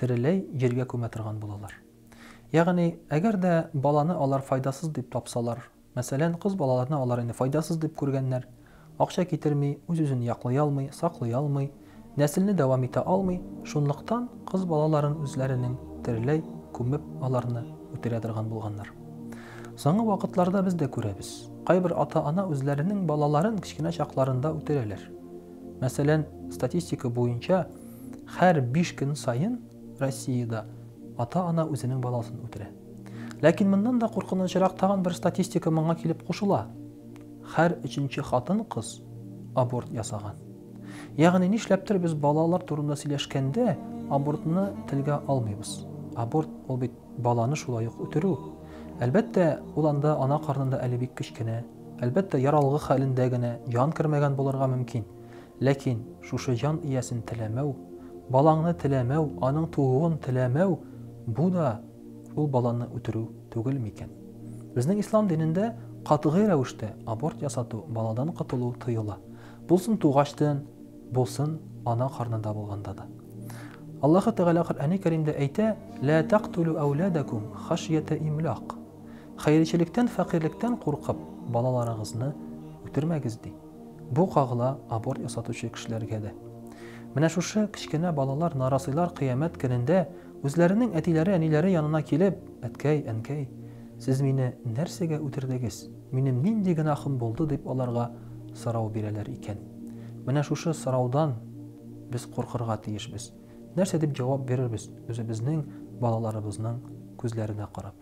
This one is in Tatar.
тереләй җиргә күмә торган булалар. Ягъни, әгәр дә баланы алар файдасыз дип тапсалар, мәсәлән, кыз балаларны алар инде файдасыз дип күргәннәр, акча китерми, үз-үзен яклый алмый, саклый алмый, нәселне дәвам итә алмый, шунлыктан кыз балаларын үзләренең тереләй күмеп, аларны үтерә торган булганнар. Соңгы вакытларда без дә күрәбез, кайбер ата-ана үзләренең балаларын кечкенә чакларында үтерәләр. Мәсәлән, статистика буенча, һәр биш көн саен Россиядә ата-ана үзенең баласын үтерә. Ләкин моннан да куркынычрак тагын бер статистика моңа килеп кушыла. Һәр өченче хатын-кыз аборт ясаган. Ягъни нишләптер без балалар турында сөйләшкәндә абортны телгә алмыйбыз. Аборт ул бит баланы шулай ук үтерү. Әлбәттә, ул анда ана карнында әле бик кечкенә. Әлбәттә, яр алгы хәлендә генә җан кермәгән булырга мөмкин. Ләкин шушы җан иясен теләмәү, балаңны теләмәү, аның тууын теләмәү, бу да ул баланы үтерү түгел микән? Безнең ислам динендә катгый рәвештә аборт ясату, баладан котылу тыела. Булсын тугачтын, булсын ана карнында булганда да. Аллаһы Тәгалә Коръәни Кәримдә әйтә, Лә тәкътүлү әүләдәкүм хәшйәтә имлак. Хәерчелектән, фәкыйрьлектән куркып, балаларыгызны үтермәгез, ди. Бу кагыла аборт ясатучы кешеләргә дә. Менә шушы кечкенә балалар, нарасыйлар кыямәт көнендә үзләренең әтиләре, әниләре янына килеп, Әткәй, әнкәй, сез мине нәрсәгә үтердегез? Минем нинди гөнаһым булды? дип аларга сорау бирәләр икән. Менә шушы сораудан без куркырга тиешбез. Нәрсә дип җавап бирербез үзебезнең балаларыбызның күзләренә карап?